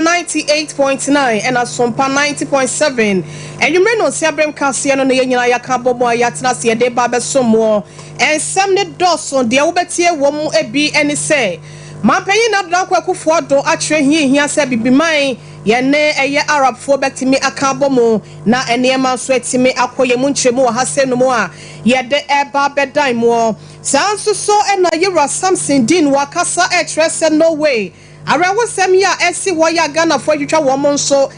ninety eight point nine ɛna sompa ninety point seven anwummere nnɔnsia bere nkaseɛ no na yɛn nyinaa yɛaka abɔ mu a yɛatena ase yɛde reba abɛsom mo. Nsɛm no dɔɔso, deɛ wobɛtie wɔ mu bi ne sɛ, Mampanyin Nana Dankwa Akuffo Addo akyerɛ hia a ɛhia sɛ Abibiman, yɛn ne ɛyɛ Arabfoɔ, bɛtumi aka abɔ mu na nneɛma nso atumi akɔ yɛn mu nkyerɛmu ɔhasɛm no mu a yɛde reba abɛdan moɔ. Saa ara nso so na Yɛn Wura Samson Dean wɔ akasa rekyerɛ sɛ Norway, Awerɛhosɛm yi a ɛsi hɔ yi a Ghanafoɔ atwitwa wɔn nso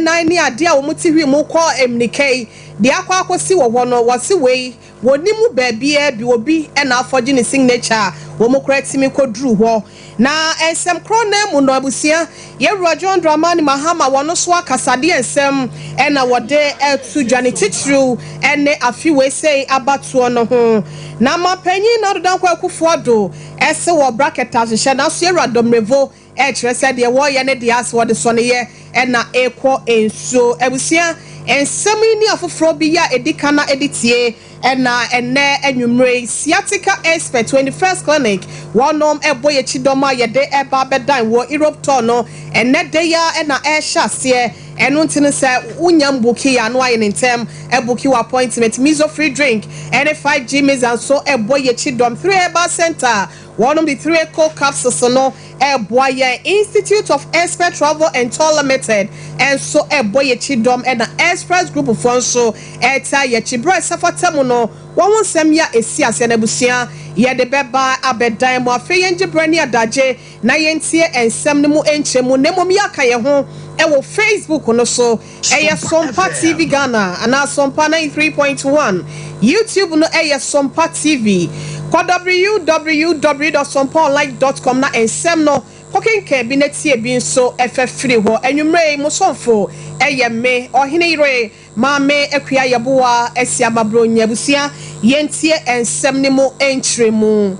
nan ne adeɛ a wɔn ti hwi mu kɔ mmirika yi de akɔ akɔsi wɔ hɔ no, wɔse wei wɔnni mu baabiara bi, obi na afɔgye ne signature a wɔn koraa tumi kɔduru hɔ. Na nsɛm korɔ no ara mu no, abusua, Yɛwura John Dramani Mahama wɔn nso akasadeɛ nsɛm na wɔde to dwa, ne titiriw ne afe wei sei abatoɔ no ho. Na Manpanyin Nana Ado Dankwa Akufo-Addo Ɛse wɔ bracket a hyehyɛ naso yɛwura Domrevo ɛkyerɛ sɛ deɛ wɔyɛ ne deɛ ase wɔde sɔ ne yɛ ɛna ekɔ nsuo. Abusua, nsɛm yi ne afoforɔ bi yɛ a edi ka na edi tie ɛna ɛnɛ anwummere yi Sciatica Expert 21st Clinic wɔnom ɛbɔ yɛn kyidɔm a yɛde ɛba abɛdan wɔ Europe tɔɔ no ɛnɛ da yi ara na ɛrehyɛ aseɛ. Ɛno nti no sɛ wonya mbuki yɛ ano ayɛ no ntɛm ɛbuki wo appointment. Mizo free drink ɛne 5G Mixer nso ɛbɔ yɛkyi dɔm. Three Herbal Center wɔnom de Three Cold Capsules no ɛboa yɛn. Institute of Expert Travel and Tour Limited nso ɛbɔ yɛkyi dɔm ɛna Express Group foɔ nso ɛtaa yɛkyi. Berɛ a ɛsɛ fata mu no wɔn ho nsɛm yɛ a ɛsi aseɛ na abusua yɛde bɛba abɛdan mo. Afei yɛngye berɛ ne adagye. na yɛntie nsɛm no mu nkyɛmu na mmom yɛaka yɛn ho wɔ Facebook no so, ɛyɛ Sompa TV Ghana anaa Sompa ninety three point one. YouTube no yɛ Sompa TV. Kɔ www dot sompaonline dot com na nsɛm no, kɔkenkan bi na tie bi nso. Ɛfɛ firi hɔ. Anwummerɛ yi, mo somfo yɛ me, Ɔhene Yere. Maame Akua Yeboah Asiamah Brony abusua, yɛntie nsɛm no mu nkyerɛmu.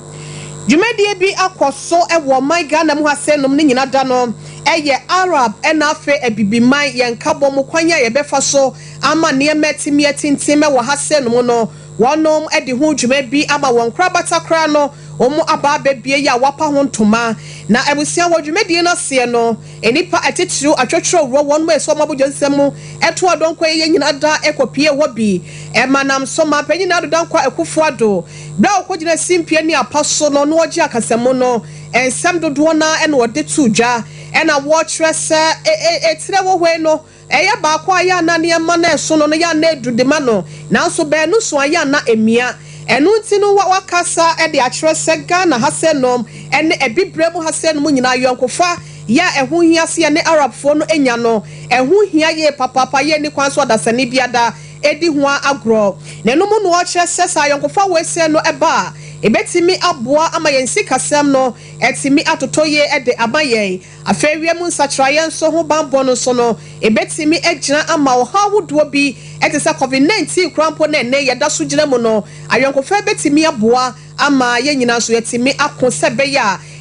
Dwumadie bi akɔ so wɔ ɔman Ghana mu ha sɛ nom no nyina da no yɛ Arab na afei Abibiman, yɛn nkabɔ mu kwan a yɛbɛfa so ama nneɛma atumi atintim wɔ ha sɛ nom no, wɔnom de ho dwuma bi ama wɔn nkorabata koraa no, wɔn aba abɛbie yɛ a wɔapa ho ntoma. Na abusua wɔ dwumadie no aseɛ no. Nnipa atitiriw atwɔtwrɔw wɔ wɔn mma asuo mabodwo nsɛm mu to adɔnkɔ yi yɛ nyina da kɔ pie hɔ bi ma nam so ma panyin Ado Dankwa Akufo Ado berɛ a ɔkɔ gyina simpie ne apa so no no ɔgye akasamu no nsɛm dodoɔ no ara na ɔde to dwa ɛna wɔ kyerɛ sɛ e e e tire wɔ hɔ yi no Ɛyɛ baako a yɛ a na nneɛma no reso no no yɛ a na edu de ma no, nanso baanu so a yɛ a na emia. Ɛno nti no wɔakasa de akyerɛ sɛ Ghana ha sɛ nom ne Abibirem ha sɛ nom nyinaa ayɔnkofa yɛ a ɛho hia sɛ yɛne Arabfoɔ no nya no, ɛho hia yie papaapa, yɛnni kwan sɛ ɔdasani bi ada adi ho ara agorɔ. Na ɛno mu na wɔkyerɛ sɛ sɛ ayɔnkofa wesee no ba a, ɛbɛtumi aboa ama yɛn sikasɛm no atumi atotɔ yie de ama yɛn. Afei wiemu nsakyeraeɛ nso ho banbɔ no nso no, ɛbɛtumi agyina ama ɔhaw ahodoɔ bi te sɛ Covid 19 koraa mpo na ɛnnɛ yɛda so gyina mu no. Ayɔnkofa bɛtumi aboa ama yɛn nyinaa nso yɛatumi ako sɛ ɛbɛyɛ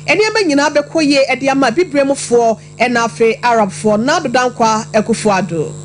a nneɛma nyinaa bɛkɔ yie de ama Abibirem foɔ na afei Arabfoɔ, Nado Dankwa Akufo-Addo.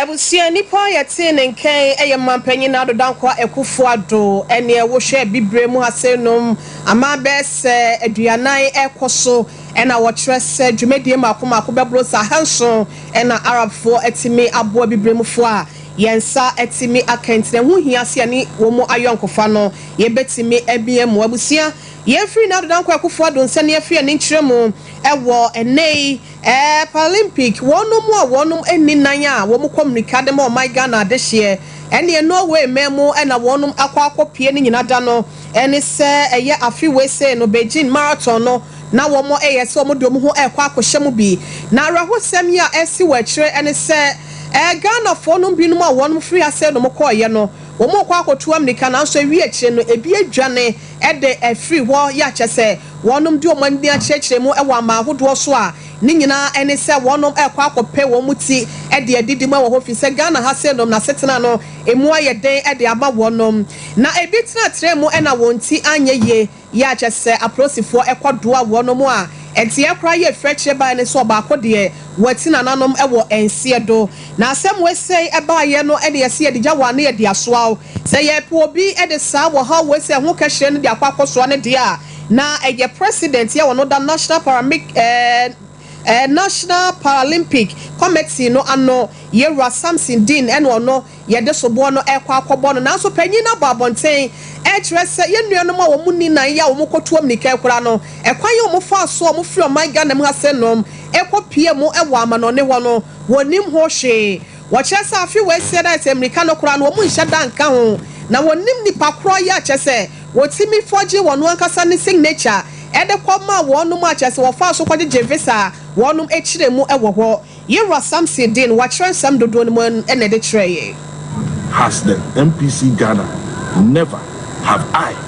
Abusua nipa a yɛtee ne nkɛn yɛ Mampanyin Ado Dankwa Akuffo Addo neɛ wohwɛ abibire mu asɛn nom aman bɛyɛ sɛ aduanan rekɔ so na wɔkyerɛ sɛ dwumadie mako mako bɛboro sɛ ahanson na Arabfoɔ atumi aboa abibire mufoɔ a yɛn nsa atumi aka nti na ɛho hia sɛ yɛne wɔn ayɔnkofa no yɛbɛtumi amia mu abusua yɛn firi Ado Dankwa Akuffo Addo nsɛm yɛfiri ani nkyerɛ mu wɔ ɛnnɛ yi Eh Paralympic wɔnom a wɔnom nni nan a wɔkɔ mmirika de ma ɔman Ghana adehyeɛ ɛneɛ Norway man mu na wɔnom akɔ akɔ pie ne nyina da no ɛne sɛ ɛyɛ afe wei sei no Beijing Marathon no na wɔmɔ ɛyɛ sɛ wɔmɔ de wɔn ho ɛkɔ akɔhyɛ mu bi na awerɛhosɛm yi a ɛsi wɔ akyire ɛne sɛ eh Ghanafoɔ nom bi nom a wɔnom firi ha sei nom kɔɔyɛ no wɔmɔ kɔ akɔtu ammirika nanso ɛwie akyire no ɛbi adwane de afiri hɔ yɛ akyɛ sɛ wɔnom de wɔn ani akyerɛkyerɛ mu wɔ aman ahodoɔ so a, ne nyinaa ne sɛ wɔnom rekɔ akɔpɛ wɔn mu ti de adidi mu wɔ hɔ firi sɛ Ghana ha sei nom no asetena no ɛmu ayɛ den de ama wɔnom na ɛbi tenatena mu na wɔn ti anyɛ yie yɛ akyɛ sɛ aprosifoɔ kɔ doa wɔnom a ɛteɛ koraa yɛ firi akyire baeɛ ne sɛ ɔbaako deɛ wati nananom wɔ nseɛ do na asɛm wei sei baeɛ no na yɛse yɛde gya wo a na yɛde asoa wo. Sɛ yɛrepɛ obi de saa wɔhaw wei sɛ ɛho kɛhyerɛ no de akɔ akɔsoa no deɛ a, na ɛyɛ President a ɔno da National Paramic eh, eh, National Paralympic Committee no ano, Yɛwura Samson Dean, ɛna ɔno yɛde soboɔ no rekɔ akɔbɔ no. Nanso panyin no abɔ abɔnten rekyerɛ sɛ yɛn nuanom a wɔn nni nan yɛ a wɔn kɔtuo mmirika rekora no, ɛkwan a wɔn faa so a wɔn firi ɔman Ghana mu ha sɛ nom rekɔ pie mu wɔ amanɔne hɔ no, wɔn nim ho hwee. Wɔkyerɛ sɛ afe wei seɛ dɛ sɛ mmirika no koraa no wɔn nhyɛ da nka ho na wɔnim nipa korɔ yɛ kyɛ sɛ wɔtumi fɔgye wɔn ankasa ne signature ɛde kɔ maa wɔnom a kyɛ sɛ wɔfaa so kɔgyegye visa a wɔnom kyerɛ mu wɔ hɔ Yewura Samson din wɔakyerɛ nsɛm dodoɔ no mu na ɛde kyerɛ yɛn. Has the MPC Ghana never have I.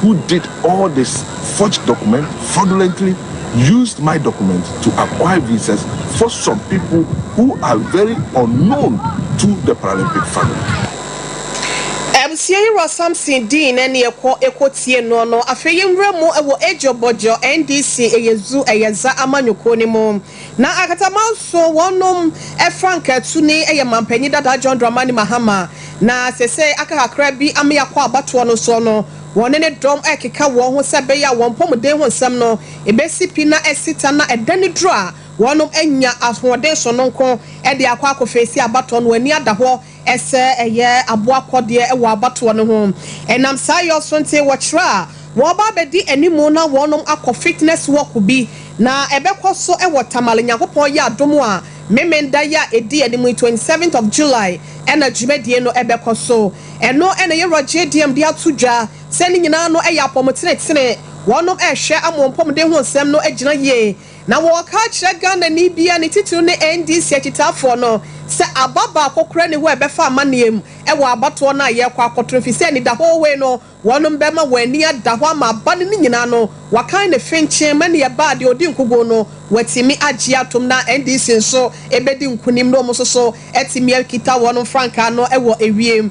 who did all this, forged document, fraudulently used my document to acquire visas for some people who are very unknown to the Paralympic family. Abusua yi wura Samson dii na ɛne ɛkɔ ɛkɔ tie noɔ no afei yɛnwura mu ɛwɔ Adwo Bɔdwo NDC Ɛyɛ Zoo Ɛyɛ Za Amanyɔkuo no mu. Na ankasa manso wɔnom frankaa tu ne yɛ manpanyin dadaa John Dramani Mahama na sesei aka kakra bi ama yɛakɔ abatoɔ no soɔ no wɔne ne dɔm rekeka wɔn ho sɛ ɛbɛyɛ a wɔn mpɔmuden ho nsɛm no bɛsi pi na asita na ɛdane duru a wɔnom anya ahoɔden sononko de akɔ akɔfeesi abatoɔ no wɔn ani ada hɔ Ɛsɛ ɛyɛ aboakɔdeɛ wɔ abatoɔ no ho. Ɛnam saa yɔ so nti wɔkyerɛ a wɔreba abɛdi anim na wɔnom akɔ fitness walk bi na ɛbɛkɔ so wɔ Tamale Nyankopɔn yɛ adom a Memenda yi a ɛdi anim yi, twenty seventh of July, ɛna dwumadie no ɛbɛkɔ so. Ɛno na Yɛwura JDM de ato dwa sɛ ne nyinaa no ɛyɛ apɔmutenetene, wɔnom ɛrehwɛ amompɔmuden ho nsɛm no agyina yie. Na wɔɔka akyerɛ Ghanani bi a ne titiriw ne NDC akyitaafoɔ no sɛ aba baako koraa nni hɔ a ɛbɛfa amanneɛ mu wɔ abatoɔ no a yɛrekɔ akɔto no efisɛ anidahɔɔ wei no wɔnom bɛma wɔn ani ada hɔ ama aba no ne nyinaa no wɔakan ne fenkyen ma nea ɛbaa deɛ ɔdi nkuguo no watumi agye atom na NDC nso ɛbɛdi nkunim na wɔn nso so atumi akita wɔnom frankaa no wɔ ewiem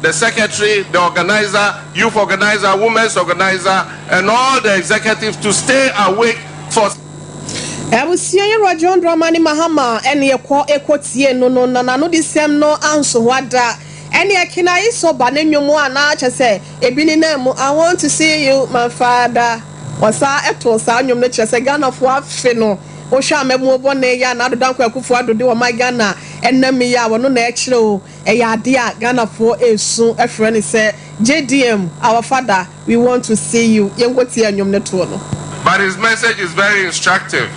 the secretary, the organiser, youth organiser, women's organiser and all the executives to stay awake for. Abusua yi Rajon Dramani Mahama ɛne ɛkɔ ɛkɔ tie no no na nanodi sɛm no ansohoa da ɛne ɛke na ayi so ba ne nwom a na kyɛ sɛ ɛbi ne nan mu I want to see you my father ɔsa ɛto saa nwom no kyerɛ sɛ Ghana foɔ afe no wohwɛ a mmamuo bɔne yɛ a na Ado Dankwa Akufo Ado de wɔn ma Ghana ɛnam yi a wɔno na ɛkyerɛ o. Ɛyɛ adeɛ a Ghanafoɔ resu frɛ no sɛ JDM, our father, we want to see you. Yɛnkɔ tie nnwom no toɔ no. But his message is very instructive,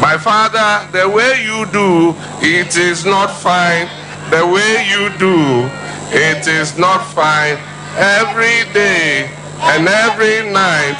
my father the way you do it is not fine the way you do it is not fine every day and every night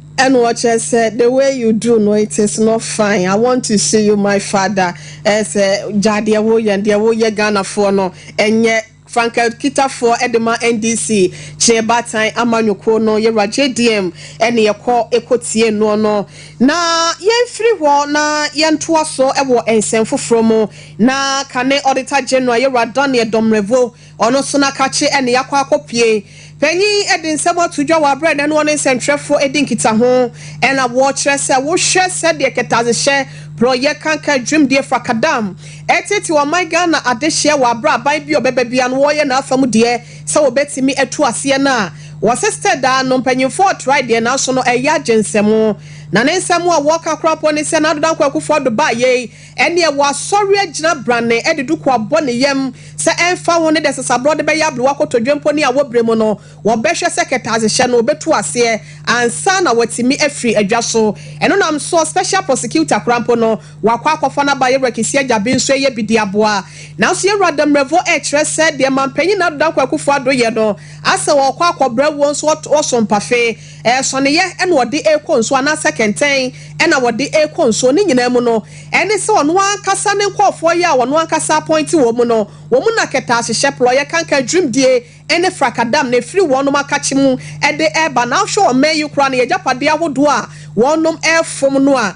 Ɛna ɔkyerɛ sɛ the way you do no it is not fine I want to see you my father ɛyɛ sɛ gyaa deɛ woyɛ no deɛ woyɛ Ghanafoɔ no ɛnyɛ Frank Akitafoɔ ɛde ma NDC kyeɛ baatan amanyɔkuo no yɛwura JDM ɛna yɛkɔ ɛkɔ tie noɔ no na yɛnfiri hɔ na yɛntoa so ɛwɔ nsɛm foforɔ mu na kane Auditor General yɛwura Daniel Domrevor Ɔno nso na kakye ne yɛakɔ akɔpue. Panyin de nsɛm ato dwa wɔ bere a ɛnnɛ no ɔne nsɛntwerɛfo redi nkitaho na wɔkyerɛ sɛ wohwɛ sɛdeɛ kɛtɛasehyɛ porɔeɛ kankan dwumdie frakadam retetew ɔman Ghana adehyeɛ wɔ bere a aban bi a ɔbɛba biara no wɔreyɛ n'afa mu deɛ sɛ wɔbɛtumi atu aseɛ no a wɔse sɛ daa no mpanyimfoɔ retrae deɛ nanso no ɛyɛ agyensɛm na ne nsɛm a wɔka koraa mpo ne sɛ Nana Dankwa Akufo-Addo baeɛ yi Ɛnneɛ wɔasɔre agyina branne de duku abɔ ne yam sɛ ɛmfa ho ne deɛ sasaborɔ de bɛyɛ abrewa kotodwe mpo ne awɔberɛ mu no, wɔbɛhwɛ sɛ kɛtɛasehyɛ no ɔbɛtu aseɛ ansa na watumi afiri adwa so. Ɛno nam soɔ Special Prosecutor koraa mpo no, wakɔ akɔfa n'aba Yɛwura Kisi Agyabi nso ɛyɛ bi de aboa. Nanso Yɛwura Damerɛvo rekyerɛ sɛ deɛ Manpanyin Nado Dankwa Akufo-Addo yɛ no, asɛ ɔrekɔ akɔbrɛ wuo nso ɔto ɔso mpafe. Sɔneeɛ na wɔde rekɔ nsuo anaasɛ kɛntɛn na wɔde rekɔ nsuo. Ne nyinaa mu no, ɛne sɛ ɔno ankasa ne nkurɔfoɔ yi a ɔno ankasa apɔinte wɔn no, wɔn na kɛtɛahyehyɛ, plɔeɛ, kanka, dwirimdie ne frakadam na ɛfiri wɔnom akakye mu de reba. Na wohwɛ ɔman yi koraa no, yɛn agyapadeɛ ahodoɔ a wɔnom refom no a,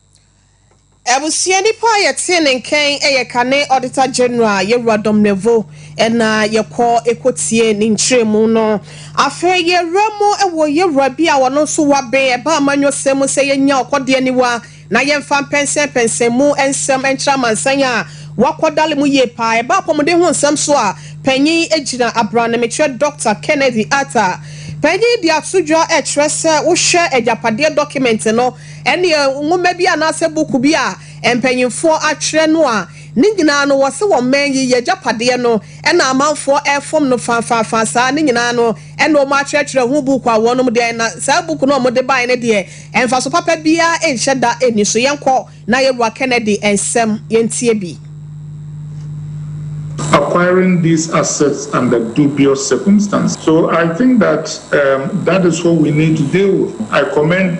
Abusua nipa a yɛtee ne nkɛn yɛ kane Auditor General Yewura Dom Neveu na yɛkɔ kɔ tiee ne nkyerɛmu no. Afei yɛwura mu wɔ yewura bi a ɔno nso waben ɛbaa amanyɔsɛm mu sɛ yɛnya ɔkɔdeɛ aniwa na yɛmfa mpɛnsɛn pɛnsɛn mu nsɛm nkyerɛ amansan a wakɔ dale mu yie paa. Ɛbaa apɔmuden ho nsɛm so a panyin gyina abrane mekyerɛ Dɔkta Kennedy Arthur. Panyin de ato dwa kyerɛ sɛ wohwɛ agyapadeɛ dɔkemɛnte no Ɛnneɛ nwoma bi anaasɛ buku bi a mpanimfoɔ atwerɛ no a ne nyinaa no wɔse wɔn man yi yɛ agyapadeɛ no na amanfoɔ refom no faafaafaa saa ne nyinaa no na wɔn atwerɛtwerɛ ho buku a wɔnom deɛ na saa buku no a wɔde baeɛ no deɛ mfaso papa biara nhyɛ da nni so. Yɛnkɔ na yɛwura Kennedy nsɛm yɛntie bi. Acquiring these assets under dubious circumstances. So I think that that is what we need to deal with. I commend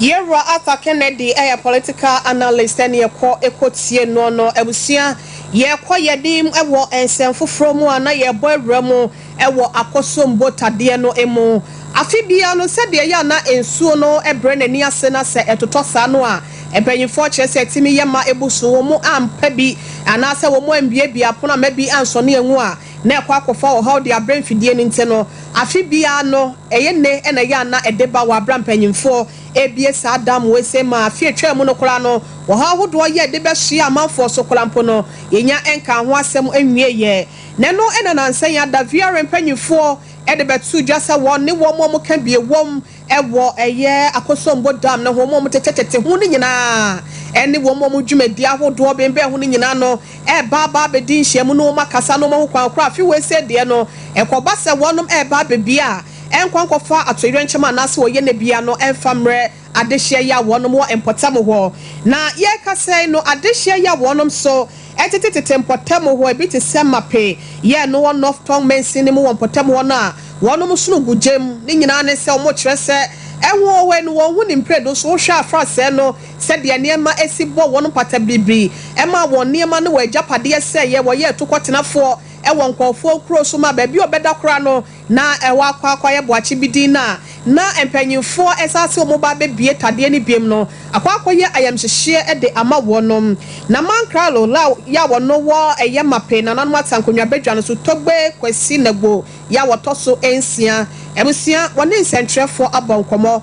Yɛn wura Arthur Kennedy yɛ political analyst ɛne ɛkɔ ɛkɔ tie noɔ no abusua yɛkɔ yɛnim wɔ nsɛm foforɔ mu a na yɛbɔ awura mu wɔ akɔsom botadeɛ no mu afe biara no sɛdeɛ ɛyɛ a na nsuo no brɛ n'ani ase na sɛ ɛtotɔ saa no a mpaninfoɔ kyerɛ sɛ ɛtumi yɛ ma ɛbu so wɔn ampɛ bi anaasɛ wɔn ambiabia pono ama bi ansɔne angu a na ɛkɔ akɔfa ɔhaw de abrɛ mfidie no nti no, afe biara no, ɛyɛ nne na ɛyɛ a na ɛde ba wɔ abira mpanyimfoɔ abiesa adam wei sei maa afe a ɛtwaa mu no koraa no, ɔhaw ahodoɔ yɛ de bɛsoɛ amanfoɔ so koraa mpo no, yɛnnya nkaa ho asɛm nwieeɛ. Na ɛno na nansa yi ada VRM mpanyimfoɔ de bɛtoo dwa sɛ wɔn ne wɔn a wɔka bi wom wɔ ɛyɛ Akosombo Dam no ho, wɔn a wɔtetetete ho no nyinaa ne wɔn a wɔn dwumadi ahodoɔ bembɛn ho no nyinaa no reba aba abɛdi nhyiamu na wɔakasa na wɔn ahu kwan korɔ a afe wei sei deɛ no ɛkɔba sɛ wɔnom reba abɛbia a nkɔ nkɔfa atoyerɛnkyɛm anaase wɔyɛ no bia no mfa mmerɛ adehyeɛ yi a wɔnom wɔ mpɔtam hɔ na yɛrekasa yi no adehyeɛ yi a wɔnom so Tetetete mpɔtam hɔ, ebi te sɛ Mape yɛɛ no wɔ North Tongmengse no mu wɔ mpɔtam hɔ no a wɔnom sono gu gya mu. Ne nyinaa ne sɛ wɔkyerɛ sɛ ahuhuhoe no wɔn ho ni mprɛdu nso wohwɛ a fa sɛɛ no sɛdeɛ nneɛma si bɔ wɔn mpata biribiri ɛmaa wɔn nneɛma ne wɔn agyapadeɛ sɛeɛ wɔyɛɛ tukɔtenafoɔ wɔ nkɔɔfoɔ nkuro so maa baabi a wɔbɛda koraa no Na ɛhɔ akwaakwaayɛ boakye bi din na na mpanyimfoɔ a ɛsɛ sɛ wɔba abɛbue tadeɛ no biom no akɔ akɔyɛ ayamhyehyeɛ de ama wɔnom. Na Mankralo la yɛ a wɔno wɔ ɛyɛ Mape nananom Asankonwa badwa no so Togbe Kwasi Nagbo yɛ a wɔtɔ so nsia abusua wɔne nsɛnkyerɛfoɔ abɔ nkɔmmɔ.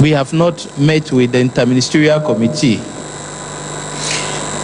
We have not met with the interministerial committee.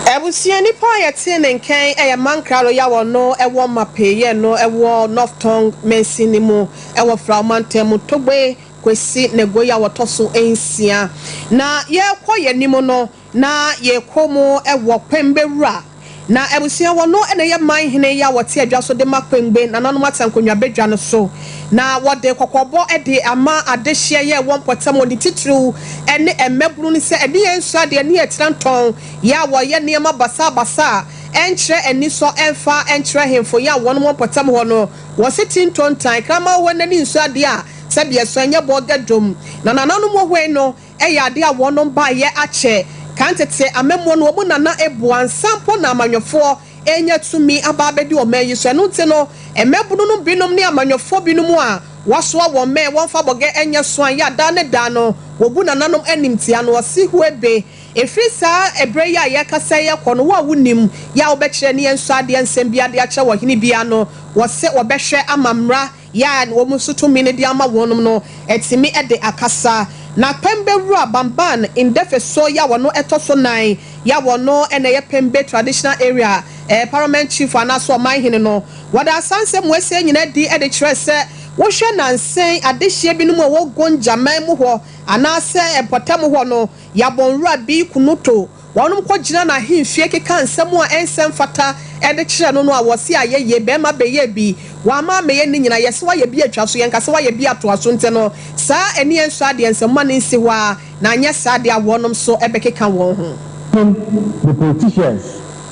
Abusua nipa a yɛtee ne nkɛn yɛ Mankra Royal a ɔno wɔ Mapei yɛ no wɔ North Tongu Mansin no mu wɔ Frao Mantam mu, Togbe Kwesi Negoye a ɔtɔ so nsia. Na yɛrekɔ yɛn anim no, Na yɛkɔ mu wɔ Kwengbe wura. Na abusua wɔ no na ɛyɛ man hene yi a wɔte adwa so de ma Kwengbe nananom Atankonwa badwa no so. Na wɔde kɔkɔbɔ de ama adehyeɛ yɛ wɔ mpɔtam wɔ ne titiriw ne mmabunu no sɛ ɛne yɛn nsɔ adeɛ ne yɛn tira ntɔn yɛ a wɔyɛ nneɛma basaa basaa a ɛnkyerɛ anisɔ ɛmfa nkyerɛ ahemfo yɛ a wɔn wɔ mpɔtam hɔ no wɔ se ti ntontan kraman hɔ nna ne nsɔ adeɛ a sɛdeɛ ɛsɔ ɛnyɛ bɔɔga dwom na nananom wɔ hɔ yi no Ɛyɛ ade a wɔnom baeɛ akyɛ. Kan tete amammuo no, wɔn na na ɛboa ansa mpo na amanyɔfoɔ renya tumi aba abɛdi ɔman yi so. Ɛno nti no, mmabunu nom binom ne amanyɔfoɔ binom a wɔasoa wɔn mɛ wɔmfa bɔgɛ nyɛ soan yɛ a daa ne daa no wɔbu nananom animtia no ɔse huebe. Ɛfiri saa ɛberɛ yi a yɛrekasa yi kɔ no, wo a wonim yɛ a wobɛkyerɛ ne yɛnsɔ adeɛ nsɛm biara de akyerɛ ɔhene biara no, wɔse wɔbɛhwɛ ama mmara Yɛ a wɔn so tumi no de ama wɔn no tumi de akasa. Na Pembe wura Bamban Ndɛfɛ so yɛ a ɔno ɛtɔ so nan yɛ a ɔno na ɛyɛ Pembe Traditional Area Parliament Chief anaa so Ɔmanhene no. Wɔde asansɛm wɔasie nyina adi de kyerɛ sɛ wohwɛ nansen adehyeɛ binom a ɛwɔ Gonja man mu hɔ anaa sɛ mpɔtam hɔ no, Yabon wura Bii Kunuto, Wɔnom kɔgyina n'ahemfie keka nsɛm a ɛnsɛ mfata de kyerɛ no no a wɔse ayɛ yie, bɛɛma bɛyɛɛ bi, w'ama ammɛyɛ nne nyina, yɛse w'ayɛ bi atwa so, yɛnka sɛ w'ayɛ bi atoa so, ntɛ no saa ani yɛ nsɔ adeɛ, nsɛm ma no nsi hɔ ara, na anyɛ saa deɛ a wɔnom nso bɛkeka wɔn ho. Tim the politicians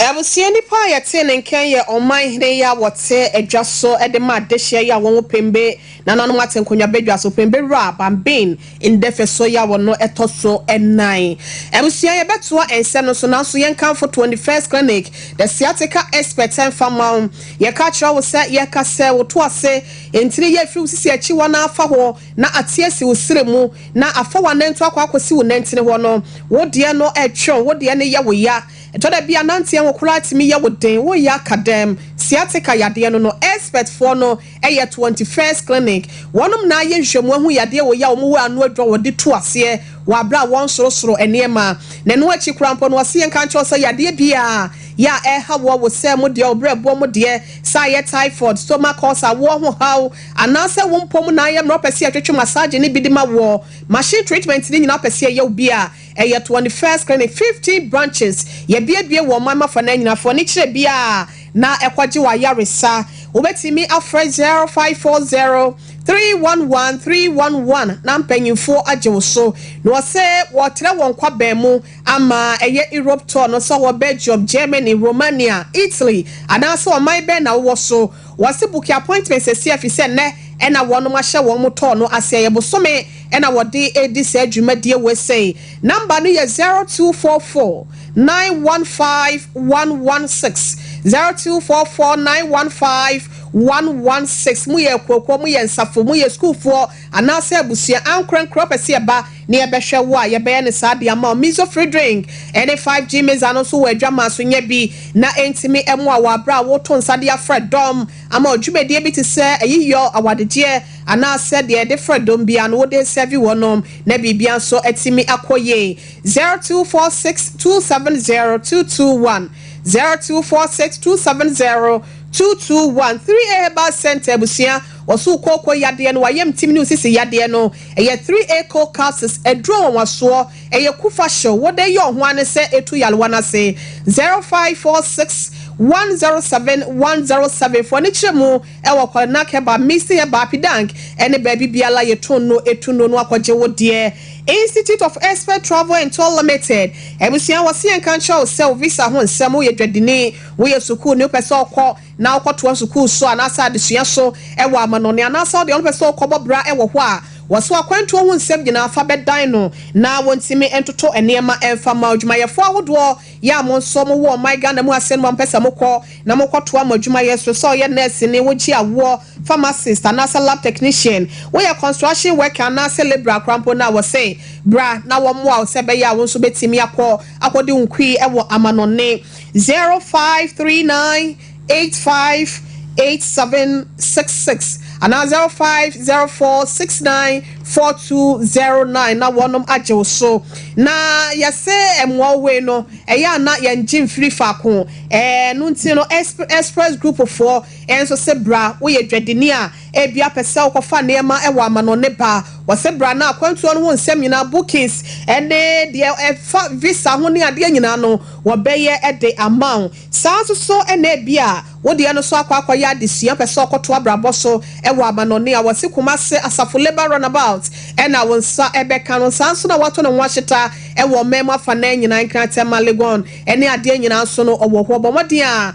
Abusua nipa a yɛtee ne nka yɛ Ɔman hene yi a wɔte adwa so de ma adehyeɛ yi a wɔn ho pembe nananom ate nkonnwa badwa so pembe wura Bambin Ndɛfɛ so yi a wɔno ɛtɔ so nan. Abusua yɛbɛtoa ɛnsɛ no so nanso yɛn kamfo 21st clinic the sciatica expert ɛnfa ma wo yɛka kyerɛ wo sɛ yɛka sɛ wo to ase ntini yɛ firi wo sisi akyi hɔ na afa hɔ na ate asi wo srɛ mu Na afa w'anantu akɔ akɔsi wo nantin hɔ no, wo deɛ no ɛtweɔn, wo deɛ no yɛ wo ya. Ɛtɔ da bi a nanteɛ ho koraa tumi yɛ wo den, wo ya ka dɛm. Sciatica yadeɛ no no expert foɔ no yɛ Twenty First Clinic. Wɔnom na ayɛ nhwɛmu ahu yadeɛ wɔ yi a wɔn wɔ ano adwa wɔ de tu aseɛ wɔ aberɛ a wɔn sorosoro nneɛma. Na ɛno akyi koraa mpo no wɔse yɛnka nkyerɛ wo sɛ yadeɛ biaa yɛ a ɛha woɔ, wo sɛɛ mo deɛ, wo berɛ boɔ mo deɛ, sɛ ayɛ typhoid, stomach ulcer, awoɔ ho haw, Anaasɛ wo mpɔ mu na ayɛ mmerɛ wopɛ sɛ yɛtwetwe massage no bi de ma woɔ. Machine treatment no nyinaa wopɛ sɛ yɛyɛ wo bi a, ɛyɛ twenty first clinic, fifteen branches. Yɛabuebue wɔ ɔman mu afa no nyinaa. Fa w'ani kyerɛ biara na kɔgye w'ayaresa. Wobɛtumi afrɛ zero five four zero, three one one, three one one na mpanyimfoɔ agye wo so. Na wɔse wɔretrɛ wɔn kwaban mu ama ɛyɛ Europe tour no. Sɛ wowɔ Belgium, Germany, Romania, Italy anaasɛ ɔman bɛn na wowɔ so, Wɔse book appointment sɛsie efisɛ nnɛ na wɔnom ahyɛ wɔn mo tɔɔ no aseɛ yɛ bosome na wɔde redi saa dwumadie wei sei number no yɛ zero two four four nine one five one one six zero two four four nine one five one one six mo yɛ akuokuo mo yɛ nsafo mo yɛ sukuufoɔ anaasɛ abusua ankorankoro apɛ sɛ yɛba na yɛbɛhwɛ wo a, yɛbɛyɛ no saa de ama wo. Mesophredrine ne 5G Mesa no nso wɔ adwammaa so nya bi na entumi mmoa wo bere a woreto nsa de afrɛ dɔm ama wo dwumadie bi te sɛ ayiyɔ, awadegyeɛ anaasɛ deɛ yɛde frɛ dɔm biara no wode resɛɛve wɔnom na biribiara nso atumi akɔ yie. 0246 270 221 0246 270 221 3A Herbal Centre Abusua Wɔsoo kooko yadeɛ no, w'ayamtim ne wo sisi yadeɛ no, ɛyɛ three aco calces, aduro nwanwasoɔ, ɛyɛ kufa hyew, wode yɛ ɔho ano sɛ ɛtu yarewa no ase. Zero five four six one zero seven one zero seven Fo ani kyerɛ mu wɔ Kwalenak herbal, Missy herbal, Pidank ne baabi biara yɛtu nnuro, ɛtu nnuro no akɔgye wo deɛ. Institute of Expert Travel and Tour Limited Abusua wɔse yɛnka nkyerɛ wo sɛ wo visa ho nsɛm, woyɛ dwadini, woyɛ sukuuni, wopɛ sɛ wokɔ, na ɔkɔtoa sukuu so anaasɛ adesua so wɔ amanɔne, anaasɛ ɔdeɛ ɔnpɛ sɛ ɔkɔbɔ bra wɔ hɔ a, wɔso akwantuo ho nsɛm nyinaa fa bɛdan no na wɔntumi ntoto nneɛma mfa mma odwumayɛfoɔ ahodoɔ yi a monso mowɔ ɔman Ghana mu ase no ma mpɛ sɛ mokɔ na mokɔtoa mo adwumayɛ so, sɛ ɔyɛ nɛɛseni, wogye awoɔ, pharmacist, anaasɛ lab technician, woyɛ construction worker anaasɛ labourer koraa mpo no a, wɔse bra na wɔmmoa wo sɛ ɛbɛyɛ a wonso bɛtumi akɔ akɔdi wo kui wɔ amanɔne. Zero five three nine eight five eight seven six six anaa zero five zero four six nine four two zero nine na wɔnom agye wo so na yɛse mmoa wo wei no ɛyɛ a na yɛn gye mfiri faako ɛɛ no nti no express group foɔ nso se bra woyɛ dwadini a Ebia pɛ sɛ wokɔfa nneɛma wɔ amanɔnne ba, wɔse bra na akwantuo no ho nsɛm nyinaa, bookings, ne deɛ ɛfa visa ho ne adeɛ nyinaa no wɔbɛyɛ de ama wo. Saa nso so na ebia wo deɛ no nso akɔ akɔyɛ adesua, pɛ sɛ ɔkɔtoa abrabɔ so wɔ amanɔnne a, wɔse Kumasi Asafo Labour Runabout na wo nsa bɛka no. Saa nso na wɔato ne ho ahyeta wɔ ɔman mu afanan nyinaa, Nkrantɛ, Malegon, ne adeɛ nyinaa nso no ɔwɔ hɔ. Bɔ mmɔden a.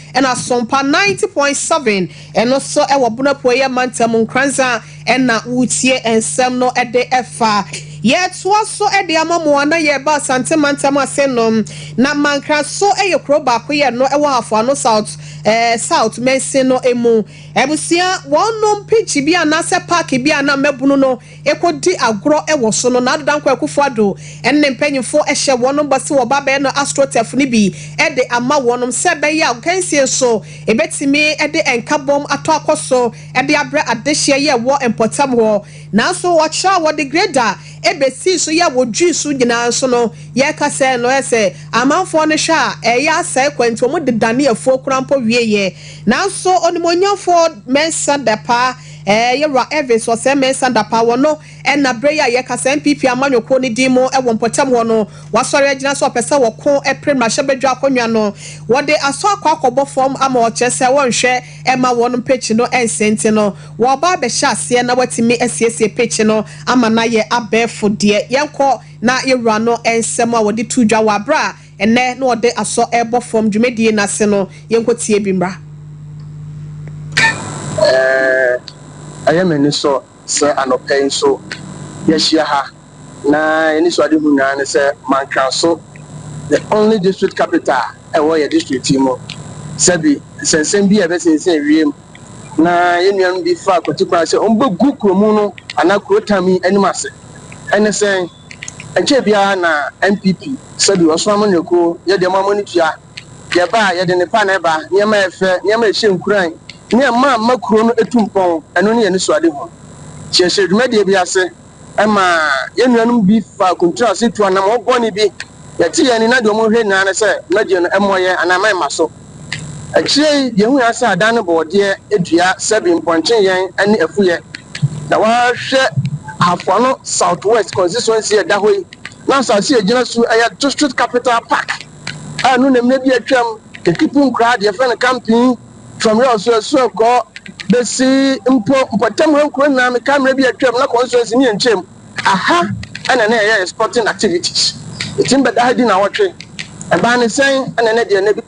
Ɛna Sompa ninety point seven ɛno nso wɔ Bono Apueɛ Mantam Nkrandza ɛna woretie nsɛm no de fa. Yɛretoa so de ama mo a na yɛreba Asante Mantam ase no, na Mankra nso yɛ kuro baakoyɛ no wɔ Hafoano South eh South Mansin no mu. Abusua, wɔnom pitch bi anaasɛ park bi a na mmabunu no rekɔdi agorɔ wɔ so no, N'ado Dankwa Akufo-Addo ne ne mpanyimfo hyɛ wɔn bɔ sɛ wɔba abɛnoa Astroturf no bi de ama wɔn sɛ ɛbɛyɛ a akansie nso betumi de nkabom atɔ akɔ so de abrɛ adehyeɛ yi a ɛwɔ mpɔtam hɔ. Nanso ɔkyerɛ a wɔde grader besii so yɛ a wɔdwii so nyinaa nso no, yɛka sɛ no ayɛ sɛ amanfoɔ no hwɛ a ɛyɛ asɛe kwa nti wɔde danee afuo koraa mpo wieeɛ. Nanso Onimuonyamfoɔ Mensah Depah Ɛɛ, Yewura Evans wɔ sɛɛ mɛnsa da paa, wɔ no ɛna berɛ yi a yɛka sɛ NPP amanyɔkuo no din mu wɔ mpɔtam hɔ no, wasɔre agyina sɛ ɔpɛ sɛ wɔko pere mmarahyɛbadwa akonnwa no. Wɔde asɔ akɔ akɔbɔ fam ama ɔkyerɛ sɛ wɔnhwɛ mma wɔnom pekyi no nse nti no, wɔreba abɛhyɛ aseɛ na watumi asiesie pekyi no ama no ayɛ abɛɛfo deɛ. Yɛnkɔ na yewura no nsɛm a wɔde too dwa wɔ aberɛ a. Ɛnnɛ na ɔde asɔ rebɔ fam dwumadie no ase no yɛnkɔ tie bi mmra. Ɛɛɛɛ ɛyɛ me anisɔ sɛ anɔpa yi nso yɛahyia ha na yɛanisoadehu nyinaa ne sɛ Mankraso the only district capital a ɛwɔ yɛn district yi mu. Sɛbi nsɛnsɛm bi a ɛbɛsensɛn wiem na yɛn nuanom bi faa kwatikwan sɛ wɔbɛgu kuromu no anaa kurotam yi anim ase. Ɛne sɛn? Ɛnkyɛɛ biara na NPP, sɛdeɛ ɔsom amanyɔkuo, yɛ deɛ mo a mo ani tua, deɛ ɛba a yɛde nnepa na ɛba, nneɛma a ɛfɛ, nneɛma a ɛhyɛ nkuran, ne ɛma ɛma kuro no ɛtu mpɔn, ɛno ne yɛn anisoadehu. Nti yɛhyɛɛ dwumadie bi ase, ɛma yɛn nuanom bi faa kuntraase tuu anammɔn bɔne bi, yɛte yɛn ani na deɛ wɔhwɛ nyinaa ne sɛ dwumadie no ɛmmɔ yɛn anaa ɛma ɛmma so. Akyire yi yɛhunu ara sɛ adan no bɔɔdeɛ dua sɛbi mpɔnkye yɛn ne afuyɛ. Na woahwɛ Ahafo Ano Southwest Kɔnsituansi a ɛda hɔ yi, na asase a ɛgyina so yi yɛ District Capital Park a ɛno na mmerɛ bi a atwam Kakipu nkuraa deɛ yɛfrɛ no Kampee, from Yawso Asuankɔ bɛsi mpo mpɔtam ha nkuroɔ nyinaa. Mekae mmerɛ bi a atwam na kɔnsituansi no yɛ nkyɛn mu. Aha na na yɛyɛ yɛn sporting activities. Yɛtumi bɛda ha di nnawɔtwe. Ɛbaa ne sɛn na ɛnnɛ deɛ nna bi.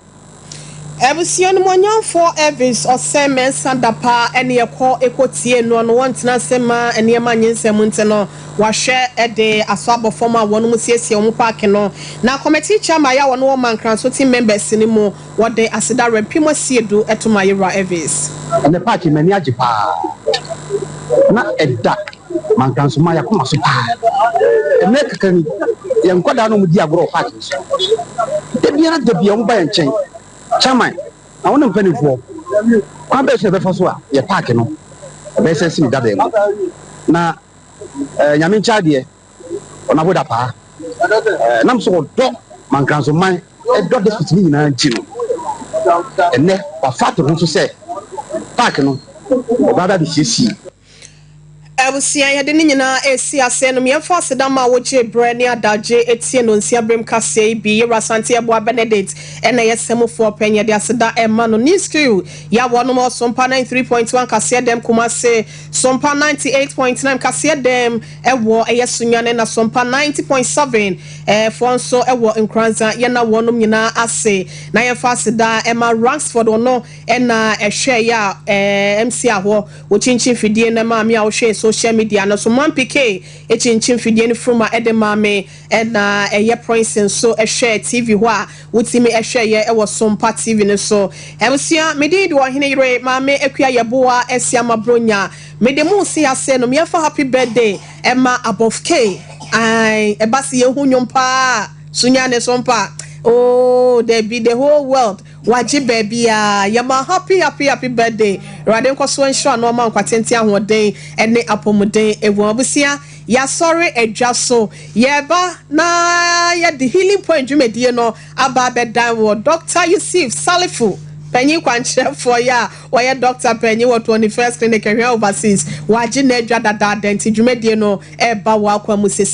Abusua Animuonyamfoɔ Elvis Osei Mensah Dapa ne yɛkɔ kɔ tiee noɔ no wɔntena ase mma nneɛma nyɛ nsam nti no wahwɛ de asɔ abɔ fam a wɔnom siesie wɔn paake no na committee chairman yɛ a wɔne wɔn ma Nkransɔ team members no mu wɔde aseda werɛ mpem asie du to ma yɛwura Elvis. Ɛnɛ paake m'ani agye paa na ɛda. Manka nso maa yɛakoma so paa. Mmerɛ kakra ni, yɛn nkwadaa na wɔdi agorɔ wɔ park no so. Da biara da biara wɔba yɛn nkyɛn. Chairman, na wo ne mpanimfoɔ, kwan bɛn so na yɛbɛfa so a yɛ park no ɛbɛyɛ sɛ sini dabɛn mu? Na eh, Nyame nkyɛn adeɛ, ɔnabo da paa. Eh, nam so wɔdɔ Mankransoman, ɛdɔ district no nyinaa nti no, ɛnɛ wafa ato ho so sɛ park no ɔbaa bɛabɛsiesie. Abusua, yɛde ne nyinaa resi ase ɛnum. Yɛmfa aseda ma a wogyee berɛ ne adagye tiee Nonsia Berem Kaseɛ yi bi. Yewura Asante Abua Benedict na ɛyɛ Samufoɔ Panyin. Yɛde aseda rema no. New School, Yawɔ no ma Ɔsompa ninety three point one Kaseɛ Dɛm Kumasi, Sompa ninety eight point nine Kaseɛ Dɛm wɔ ɛyɛ Sunyani na Sompa ninety point seven foɔ nso wɔ Nkoranza. Yɛna wɔnom nyinaa ase na yɛmfa aseda ma Rangsford ɔno na ɛhwɛɛeɛ a MC ahɔ. Wokyinkyin fidie no maa me a wohwɛɛ social media no so. Mampy Kay kyinkyin fidie no firi mu a ɛde maa me ɛna ɛyɛ Prince nso hwɛɛ TV hɔ a wotumi hwɛeɛ wɔ Sompa TV no so. Abusua, me din de Ɔhene Yere, Maame Akua Yeboah Asiamah Bronya. Mede mo resi ase no, meɛfa happy birthday ɛma Abɔf Kay. Ae, ɛba se yɛhu nnwom paa a, Sunyani Sompa, ooh, dabi, the whole world. Wagye baabiaa. Yɛma happy happy happy birthday Awurade nkɔ so nhyira no ɔma nkwa tenten ahoɔden ɛne apɔmuden ɛwom abusua yasɔre adwa so yɛba na yɛde healing point dwumadie no aba abɛdan wɔ Doctor Yusif Salifu panyin kwankyerɛfoɔ yɛ a ɔyɛ Doctor panyin wɔ 21st Clinic Ɛhwea Overseas wagye n'adwa dadaada nti dwumadie no ɛba wɔ akwa mu sɛsi.